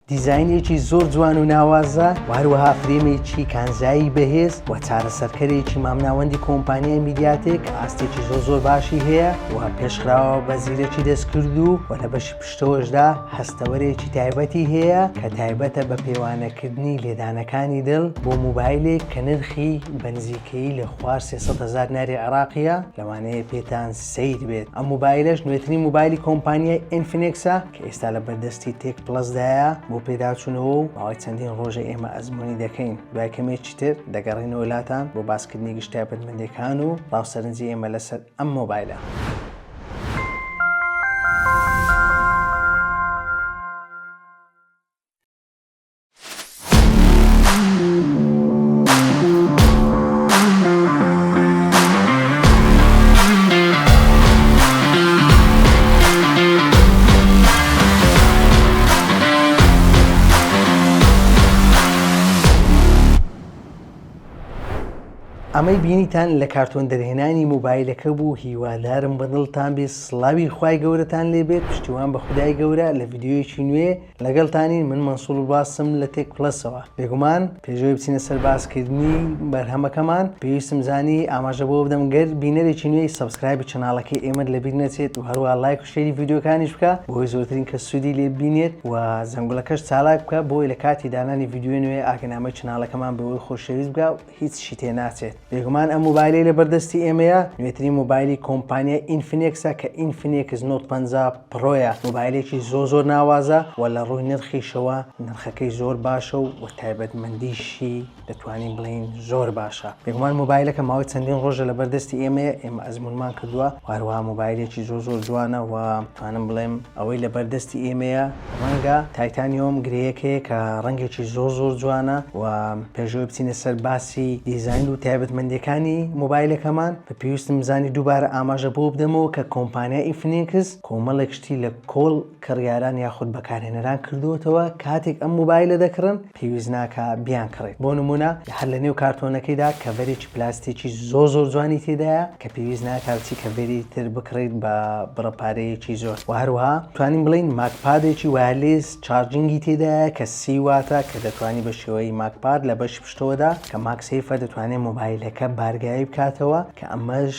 دیزاینێکی زۆر جوان و ناوازە و هەروەها فرێمێکی کانزایی بەهێز و چارەسەرکەرێکی مامناوەندی کۆمپانیای میدیاتێک کە ئاستێکی زۆر زۆر باشی هەیە و پێشخراوە بە زیرەکی دەستکردوو و لە بەشی پشتەوەشدا هەستەوەرێکی تایبەتی هەیە کە تایبەتە بە پێوانەکردنی لێدانەکانی دڵ بۆ موبایلێک کە نرخی بە نزیکەیی لە خوار سێ سەد هەزار دیناری عێراقییە لەوانەیە پێتان سەیر بێت ئەم موبایلەش نوێترین موبایلی کۆمپانیای ئینفینێکسە کە ئێستا لە بەردەستی تێک پڵەسدایە بۆ پێداچوونەوە و ماوەی چەندین ڕۆژە ئێمە ئەزمموی دەکەین دوای کەمێکی تر دەگەڕینەوە لاتان بۆ باسکردنی گشتتابەتمەندەکان و ڕاوسەرنجی ئێمە لەسەر ئەم مۆبایلە. ئەمەی بینیتان لە کارتۆن دەرهێنانی موبایلەکە بوو هیوادارم بەدڵتان بێ سڵاوی خوای گەورەتان لێبێت پشتیوان بە خودای گەورە لە ڤیددیویەکی نوێ لەگەڵتانین من مەنسوڵ باستم لە تێک پڵەسەوە. بێگومان پێشەوەی بچینە سەر باس کردنی بەرهەمەکەمان پێویستم زانی ئاماژە بەوە بدەم گەر بینەرێکی نوێی سەبسکرایبی چەناڵەکەی ئێمەت لەبیر نەچێت و هەروەها لایک و شەیری ڤیدیۆکانیش بکە بۆی زۆرترین کەس سوودی لێ ببینێت و زەنگوڵەکەش چالاک بکە بۆی لە کاتی دانانی ڤیدیۆی نوێ ئاگەنامەی چەناڵەکەمان بەوی خۆشەویست بکە هیچی تێ ناچێت بێگومان ئەم مۆبایلەی لەبەر دەستی ئێمەیە نوێترین مۆبایلی کۆمپانیای ئینفینێکسە کە ئینفینێکس نۆت پەنجا پڕۆیە مۆبایلێکی زۆر زۆر ناوازە و لە ڕووی نرخیشەوە نرخەکەی زۆر باشە و وە تایبەتمەندیشی دەتوانین بڵێین زۆر باشە بێگومان مۆبایلەکە ماوەی چەندین ڕۆژە لەبەر دەستی ئێمەیە ئێمە ئەزمونمان کردووە و هەروەها مۆبایلێکی زۆر زۆر جوانە و توانم بڵێم ئەوەی لە بەر دەستی ئێمەیە ڕەنگە تایتانیۆم گرێیەک هەیە کە ڕەنگێکی زۆر زۆر جوانە و پێش ئەوەی بچینە سەر باسی دیزاین و تایبەتمەندیەکانی مۆبایلەکەمان بە پێویستم بزانی دووبارە ئاماژە بۆ بدەمەوە کە کۆمپانیای ئیفنیکس کۆمەڵێک شتی لە کۆڵ کڕیاران یاخود بەکارهێنەران کردووەتەوە کاتێک ئەم مۆبایلە دەکڕن پێویست ناکا بیان کڕیت بۆ نمونە هەر لە نێو کارتۆنەکەیدا کەڤەرێکی پلاستیکی زۆر زۆر جوانی تێدایە کە پێویست ناکا بچی کەڤەری تر بکڕیت بە بڕە پارەیەکی زۆر وە هەروەها توانین بڵێین ماکپادێکی وایەرلیس چارجینگی تێدایە کە سی واتە کە دەتوانی بە شێوەی ماکپاد لە بەشی پشتەوەدا کە ماکسەیفە دەتوانێت مۆبایلەکە بارگاوی بکاتەوە کە ئەمەش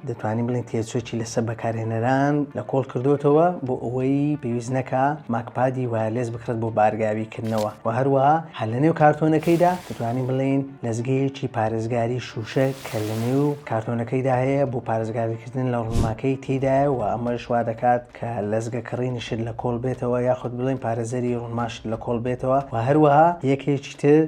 دەتوانین بڵێن تێچۆکی لەسەر بەکارهێنەران لە کۆڵ کردۆتەوە بۆ ئەوەی پێویست نەکا ماکپادی وایەرلێس بکڕێت بۆ بارگاوی کردنەوە وە هەروەها هەر لە نێو کارتۆنەکەیدا دەتوانین بڵێین لەزگەیەکی پارێزگاری شوشە کە لە نێو کارتۆنەکەیدا هەیە بۆ پارێزگاری کردن لە ڕونماکەی تێدایە وە ئەمەش وا دەکات کە لەزگە کڕینی شت لە کۆڵ بێتەوە یاخود بڵێین پارێزەری ڕونما شت لە کۆڵ بێتەوە وە هەروەها یەکێکی تر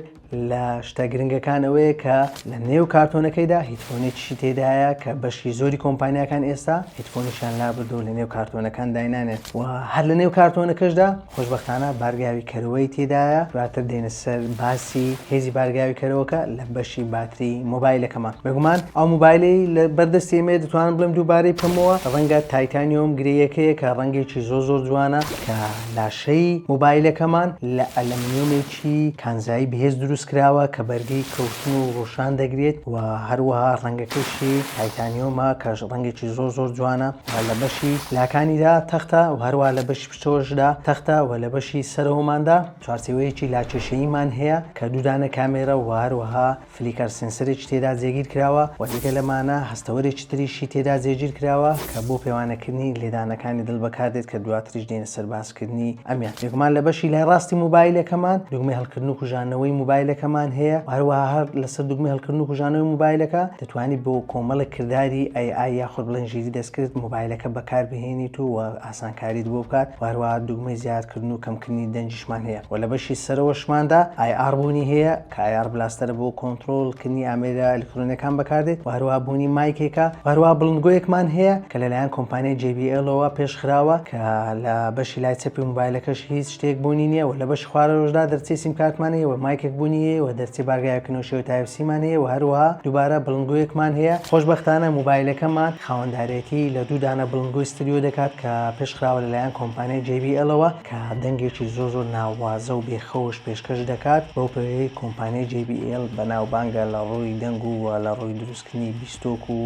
لە شتە گرنگەکان ئەوەیە کە لە نێو کارتۆنەکەیدا هیتفۆنێکیشی تێدایە کە بەشی زۆری کۆمپانیەکان ئێستا هیتفۆنیشان لابردو لە نێو کارتۆنەکان داینانێت و هەر لە نێو کارتۆنەکەشدا خۆشببختانە بارگاوی کەرەوەی تێدایە دواتر دێنە سەر باسی هێزی بارگاوی کەرەوەکە لە بەشی باتری مۆبایلەکەمان بەگومان ئەو موبایلی لە بەردەستی ئێمە دەتوانم بڵێم دووبارەی بکەمەوە ڕەنگە تایتانیۆم گرەیەکەیە کە ڕەنگێکی زۆ زۆر جوانە کە لاشەی موبایلەکەمان لە ئەلەمنیۆمێکی بەشێکی کانزایی بەهێز دروست کراوە کە بەرگەی کەوتن و ڕۆشان دەگرێت و هەروەها ڕەنگەکەشی تایتانیۆمە کە ڕەنگێکی زۆر زۆر جوانە لە بەشی لاکانیدا تەختە و هەروە لە بەشی پشتەوەشدا تەختە و لە بەشی سەرەوەماندا چوارچێوەیەکی لاکێشەییمان هەیە کە دوو دانە کامێرە و هەروەها فلیکەر سێنسەرێکی تێدا جێگیرکراوە و جگە لەمانە هەستەوەرێکی تریشی تێدا جێگیرکراوە کە بۆ پێوانەکردنی لێدانەکانی دڵ بەکاردێت کە دواتریش دێنە سەر باسکردنی ئەمیان بێگومان لە بەشی لای ڕاستی موبایلەکەمان دوگمەی هەڵکردن و کوژانەوەی موبایلەکەمان هەیە و هەروەها هەر لەسەر دوگمەی هەڵکردن و کوژانەوەی موبایلەکە دەتوانیت بۆ کۆمەڵێک کرداری ئەی ئای یاخود بڵێن ژیری دەستکرد موبایلەکە بەکاربهێنیت و ئاسانکاریت بۆ بکات و هەروەها دوگمەی زیادکردن و کەمکردنی دەنگیشمان هەیە و لە بەشی سەرەوەشماندا ئای ئاڕ بوونی هەیە تایەر بلاستەر بۆ کۆنترۆڵ کردنی ئامێرە ئەلیکترۆنیەکان بەکاردێت و هەروەها بوونی مایکێکە و هەروەها بڵندگۆیەکمان هەیە کە لەلایەن کۆمپانیای جەی بی ئێڵەوە پێش خراوە کە لە بەشی لای چەپی موبایلەکەش هیچ شتێک بوونی نییە و لە بەشی خوارەوەشدا دەرچەی سیمکارتمان هەیە و مایکێک بوونی هەیە و دەرچەی بارگای کەنۆشەوەی تایپ سیمان هەیە و هەروەها دووبارە بڵندگۆیەکمان هەیە خۆشبەختانە موبایلەکەمان خاوەندارێتی لە دوو دانە بڵندگۆی ستریۆ دەکات کە پێش خراوە لەلایەن کۆمپانیای جەی بی ئێڵەوە. کە دەنگێکی زۆر زۆر ناوازە و بێ خەوش پێشکەش دەکات، بەو پێیەی کۆمپانیای جەی بی ئێڵ بەناوبانگە لە ڕووی دەنگ و وە لە ڕووی دروستکردنی بیستۆک و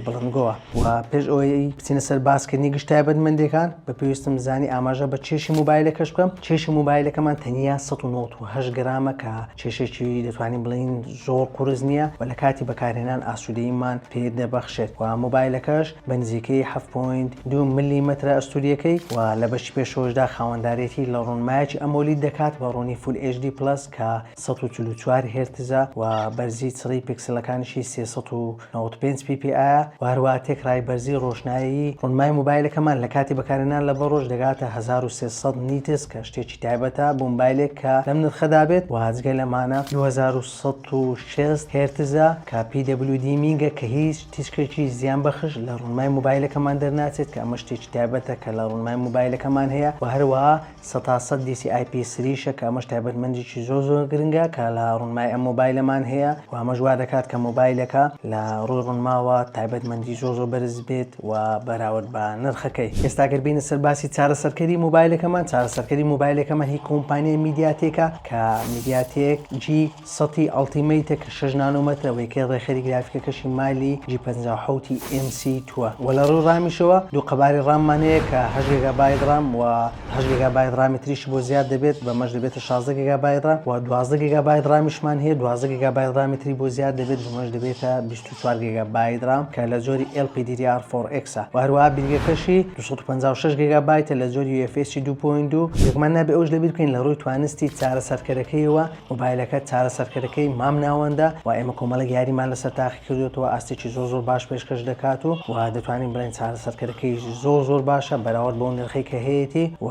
بڵندگۆوە. وە پێش ئەوەی بچینە سەر باس کردنی گشت تایبەتمەندیەکان بە پێویستم زانی ئاماژە بە کێشی مۆبایلەکەش بکەم، کێشی مۆبایلەکەمان تەنیا سەد و نەوەد و هەشت گرامە کە کێشێکی دەتوانین بڵێین زۆر قورس نیە و لە کاتی بەکارهێنان ئاسودەییمان پێ دەبەخشێت وە مۆبایلەکەش بە نزیکەی حەفت پۆینت دوو مللیمەترە ئەستوورییەکەی و لە بەشی پێشەوەشدا خاوەندارێتی لە ڕوونمایەکی ئەمۆلید دەکات بە ڕوونی فول ئێچ دی پڵەس کە سەد و چل و چوار هێرتزە و بەرزی چڕی پیکسلەکانیشی سێ سەد و نەوەد و پێنج پی پی ئایە و هەروەها تێکڕای بەرزی ڕۆشنایی ڕوونمای مۆبایلەکەمان لە کاتی بەکارهێنان لە بە ڕۆژ دەگاتە هەزار و سێ سەد نیتس کە شتێکی تایبەتە بۆ مۆبایلێک کە لەم نرخەدا بێت و جگە لەمانە دوو هەزار و سەد و شەست هێرتزە کە پی دەبلیو دی مینگە کە هیچ تیشکێکی زیان بەخش لە ڕونمای مۆبایلەکەمان دەرناچێت کە ئەمە شتێکی تایبەتە کە لە ڕونمای مۆبایلەکەمان هەیە وە هەروەها سەتا سەد دیسی ئای پی سری شە کە ئەمەش تایبەتمەندیکی زۆر زۆر گرنگە کە لە ڕونمای ئەم مۆبایلەمان هەیە وە ئەمەش وا دەکات کە مۆبایلەکە لە ڕوی ڕونماوە تایبەتمەندی زۆر زۆر بەرز بێت وە بەراورد بە نرخەکەی ئێستا گەر بێینە سەر باسی چارەسەرکەری مۆبایلەکەمان چارەسەرکەری مۆبایلەکەمان هی کۆمپانیای میدیاتێکە کە میدیاتێک جی سەتی ئەڵتیمەیتە کە شەش نانۆمەترە و یەکەی ڕێکخەری گرافیکەکەشی مالی جی پەنجا و حەوت ی ئێم سی تووە و لە ڕووی ڕامیشەوە دوو قەبارەی ڕاممان هەیە کە هەشت گێگابایت ڕام و هەشت گێگابایت ڕامی تریشی بۆ زیاد دەبێت بەمەش دەبێتە شازدە گێگابایت ڕام و دوازدە گێگابایت ڕامیشمان هەیە دوازدە گێگابایت ڕامی تری بۆ زیاد دەبێت بەمەش دەبێتە بیست و چوار گێگابایت ڕام کە لە جۆری ئێل پی دی دی ئاڕ فۆڕ ئێکس ە و هەروەها بیرگەکەشی دوو سەد و پەنجا و شەش گێگابایتە لە جۆری یو ئێف ئێسی دوو پۆینت دوو. بێگومان نابێ ئەوەش لەبیر بکەین لە ڕووی توانستی چارەسەرکەرەکەیەوە مۆبایلەکە چارەسەرکەرەکەی مام ناوەندە و ئێمە کۆمەڵێک یاریمان لەسەر تاقی کردۆتەوە ئاستێکی زۆر زۆر باش پێشکەش دەکات و و دەتوانین بڵێن چارەسەرکەرەکەیش زۆر زۆر باشە بەراورد بەو نرخەی کە هەیەتی و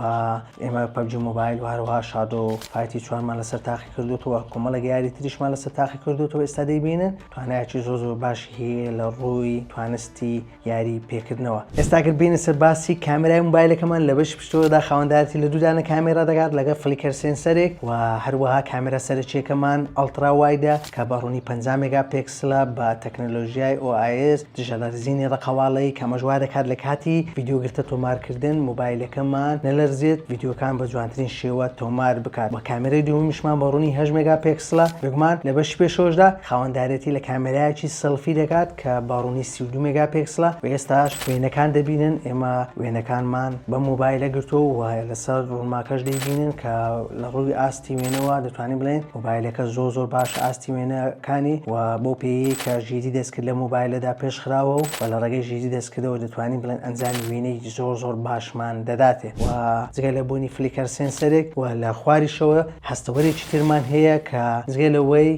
ئێمە پەبجی مۆبایل و هەروەها شادۆ فایتی چوارمان لەسەر تاقی کردۆتەوە کۆمەڵێک یاری تریشمان لەسەر تاقی کردۆتەوە ئێستا دەیبینن توانایەکی زۆر زۆر باشی هەیە لە ڕووی توانستی یاری پێکردنەوە ئێستا گەر بێنە سەر باسی کامێرای موبایلەکەمان لە بەشی پشتەوەدا خاوەندارێتی لە دوو دانە کامێرا دەکات لەگەڵ فلیکەر سێنسەرێک و هەروەها کامێرا سەرەکیەکەمان ئەڵترا وایدە کە بە ڕوونی پەنجا مێگا پێکسلە بە تەکنەلۆژیای OIS دژە لەرزینی ڕەقەواڵەیی کە ئەمەش وا دەکات لە کاتی ڤیدیۆ گرتە تۆمارکردن موبایلەکەمان نەلەرزێت ڤیدیۆکان بە جوانترین شێوە تۆمار بکات وە کامێرای دووەمیشمان بە ڕوونی هەشت مێگا پێکسلە بێگومان لە بەشی پێشەوەشدا خاوەندارێتی لە کامێرایەکی سێڵفی دەکات کە بە ڕوونی سی و دوو مێگاپێکسلە و ئێستاش وێنەکان دەبینن، ئێمە وێنەکانمان بەم مۆبایلە گرتووە و لەسەر ڕوونماکەش دەیبینن کە لە ڕووی ئاستی وێنەوە دەتوانین بڵێین مۆبایلەکە زۆر زۆر باشە ئاستی وێنەکانی و بەو پێیەی کە ژیری دەستکرد لە مۆبایلەدا پێش خراوە و لە ڕێگەی ژیری دەستکردەوە دەتوانین بڵێن ئەنجامی وێنەیەکی زۆر زۆر باشمان دەداتێ و جگە لە بوونی فلیکەر سێنسەرێک و لە خواریشەوە هەستەوەرێکی ترمان هەیە کە جگە لەوەی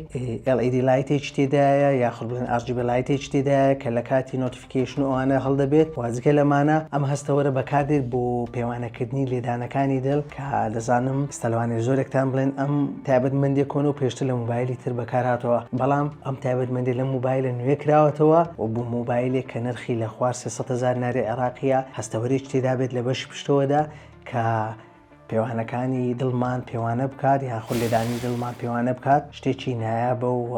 LED لایتێکی تێدایە یاخود بڵێن RGB لایتێکی تێدایە کە لە کاتی نۆتیفیکەیشن و ئەوانە هەڵدەبێت و جگە لەمانە ئەم هەستەوەرە بەکاردێت بۆ پێوانەکردنی لێدانەکانی دڵ کە دەزانم ئێستا لەوانەیە زۆرێکتان بڵێن ئەم تایبەتمەندیە کۆنە و پێشتر لە مۆبایلی تر بەکارهاتووە بەڵام ئەم تایبەتمەندی لەم مۆبایلە نوێ کراوەتەوە و بۆ مۆبایلێک کە نرخی لە خوار سێ سەد هەزار ناری عێراقیە هەستەوەرێکی تێدابێت لە بەشی پشتەوەدا کە پێوانەکانی دڵمان پێوانە بکات یان خۆ لێدانی دڵمان پێوانە بکات شتێکی نایابە و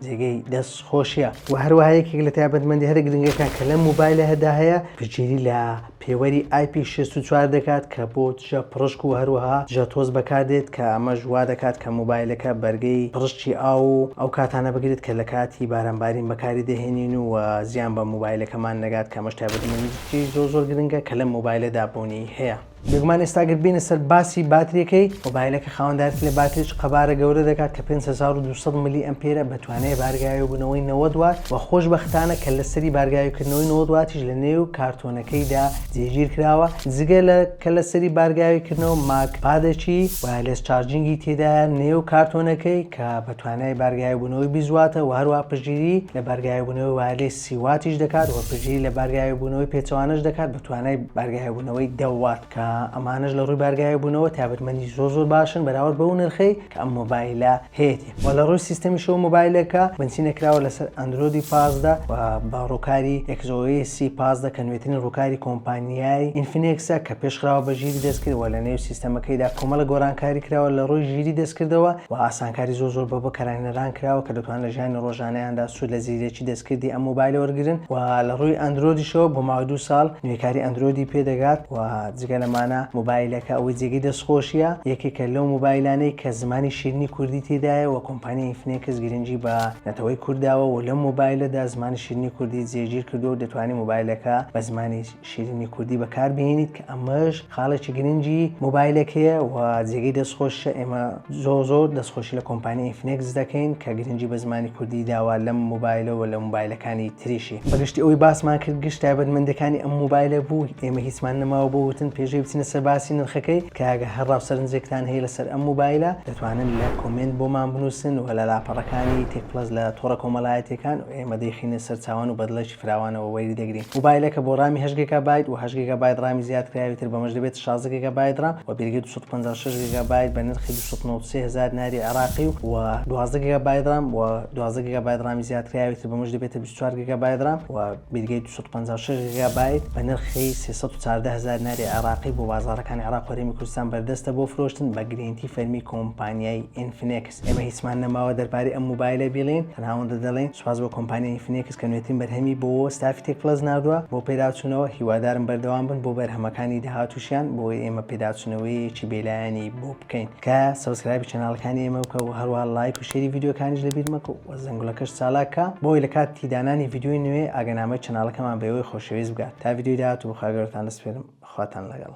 جێگەی دەست خۆشیە و هەروەهەیەکێک لە تایبەتمەندی هەر گرنگەکان کە لە موبایلە هەدا هەیە پچیری لە پێوەری آیپی 64 دەکات کە بۆ دژە پڕشک و هەروەها دژە تۆز بەکاردێت کە ئەمەش وا دەکات کە موبایلەکە بەرگەی پڕشتی ئاو و ئەو کاتانە بگرێت کە لە کاتی بارانبارین بەکاری دەهێنین و زیان بە موبایلەکەمان نەگات کە مەش تایبەتمەندی زۆ زۆر گرنگە کە لە موبایلەدا بوونی هەیە. بێگومان ئێستا گەر بێنە سەر باسی باتریەکەی مۆبایلەکە خاوەندارێتی لە باتریچ قەبارە گەورە دەکات کە 5200 ملی ئەمپێرە بە توانای بارگاوی بوونەوەی 90 وات وە خۆش بەختانە کە لە سەری بارگاوی کردنەوەی 90 واتیش لە نێو کارتۆنەکەیدا جێگیر کراوە جگە لە کە لە سەری بارگاوی کردنەوە ماک پادەکی وایەرلێس چارجینگی تێدایە نێو کارتۆنەکەی کە بە توانای بارگاوی بوونەوەی 20 واتە وە هەروە پشگیری لە بارگاوی بوونەوەی وایەرلێس سیواتیش دەکات و پشتگیری لە بارگاوێبوونەوەی پێچەوانەش دەکات بە توانای بارگاوێبوونەوەی دەوات کە ئەمانەش لە ڕووی بارگاوێبوونەوە تایبەتمەندی زۆر زۆر باشن بەراورد بەو نرخەی کە ئەم مۆبایلە هەیەتی و لە ڕووی سیستەمیشەوە مۆبایلەکە بنچینە کراوە لەسەر ئەندرۆدی پازدە و بە ڕووکاری ئێکس ئۆ ئێسی پازدە کە نوێترین ڕووکاری کۆمپانیای ئینفینێکسە کە پێشخراوە بە ژیری دەستکرد و لە نێو سیستەمەکەیدا کۆمەڵێک گۆڕانکاری کراوە لە ڕووی ژیری دەستکردەوە و ئاسانکاری زۆر زۆر بۆ بەکارهێنەران کراوە کە دەتوانن لە ژیانی ڕۆژانەیاندا سوود لە زیرەکی دەستکردی ئەم مۆبایلە وەرگرن و لە ڕووی ئەندرۆدیشەوە بۆ ماوەی دوو ساڵ نوێکاری ئەندرۆیدی پێ دەگات و جگە لەمانە مۆبایلەکە ئەوەی جێگەی دەستخۆشیە یەکێکە لەو مۆبایلانەی کە زمانی شیرینی کوردی تێدایە و کۆمپانیای ئینفنێکس گرنگی بە نەتەوەی کورد داوە و لەم مۆبایلەدا زمانی شیرینی کوردی جێگیر کردووە و دەتوانی مۆبایلەکە بە زمانی شیرینی کوردی بەکار بهێنیت کە ئەمەش خاڵێکی گرنگی مۆبایلێک هەیە و جێگەی دەستخۆشیشە ئێمە زۆر زۆر دەستخۆشی لە کۆمپانیای ئینفینێکس دەکەین کە گرنگی بە زمانی کوردی داوە لەم مۆبایلەوە لە مۆبایلەکانی تریشی بەگشتی ئەوەی باسمان کرد گشت تایبەتمەندەکانی ئەم مۆبایلە بوو ئێمە هیچمان نەماوە بۆ وتن پێشەی بچینە سەر باسی نرخەکەی تکایە گەر هەر ڕاو سەرنجێکتان هەیە لەسەر ئەم مۆبایلە دەتوانن لە کۆمێنت بۆمان بنووسن و لە لاپەڕەکانی تێک پڵەس لە تۆڕە کۆمەڵایەتیەکان و ئێمە دەیخینە سەر چاوان و بەدڵێکی فراوانەوە وەری دەگرین. موبایلەکە بۆ ڕامی هەشت گێگا بایت و هەشت گێگا بایت ڕامی زیادکراوی تر بەمەش دەبێتە شازدە گێگا بایت ڕام و پێگەی دوو سەد و پەنجا و شەش گێگا بایت بە نرخی دوو سەد و نەوەد و سێ هەزار دیناری عێراقی و و دوازدە گێگا بایت ڕام و دوازدە گێگا بایت ڕامی زیادکراوی تر بەمەش دەبێتە بیست و چوار گێگا بایت ڕام و پێگەی دوو سەد و پەنجا و شەش گێگا بایت بە نرخی سێ سەد و چاردە هەزار دیناری عێراقی بۆ بازاڕەکانی عێراق و هەرێمی کوردستان بەردەستە بۆ فرۆشتن بە گرێنتی فەرمی کۆمپانیای Infinex. ئێمە هیچمان نەماوە دەربارەی ئەم موبایلە بیڵێین، تەنها ئەوەندە دەڵێین سوپاس بۆ کۆمپانیای ئینفنێکس کە نوێترین بەرهەمی بۆ و ستافی تێک پڵەس ناردووە بۆ پێداچوونەوە، هیوادارم بەردەوام بن بۆ بەرهەمەکانی داهاتووشیان بۆ ئەوەی ئێمە پێداچوونەوەیەکی بێلایەنی بۆ بکەین. تکایە سەبسکرایبی چەناڵەکانی ئێمە بکە و هەروەها لایک و شێری ڤیدیۆکانیش لەبیر مەکە و زەنگوڵەکەش چالاک کە بۆ ئەوەی لەکاتی دانانی ڤیدیۆی نوێ ئاگەنامەی چەناڵەکەمان بە ئێوەی خۆشەویست بگات. تا ڤیدیۆی داهاتوو بەخاگەورەتان دەسپێرم. خواتان لەگەڵ.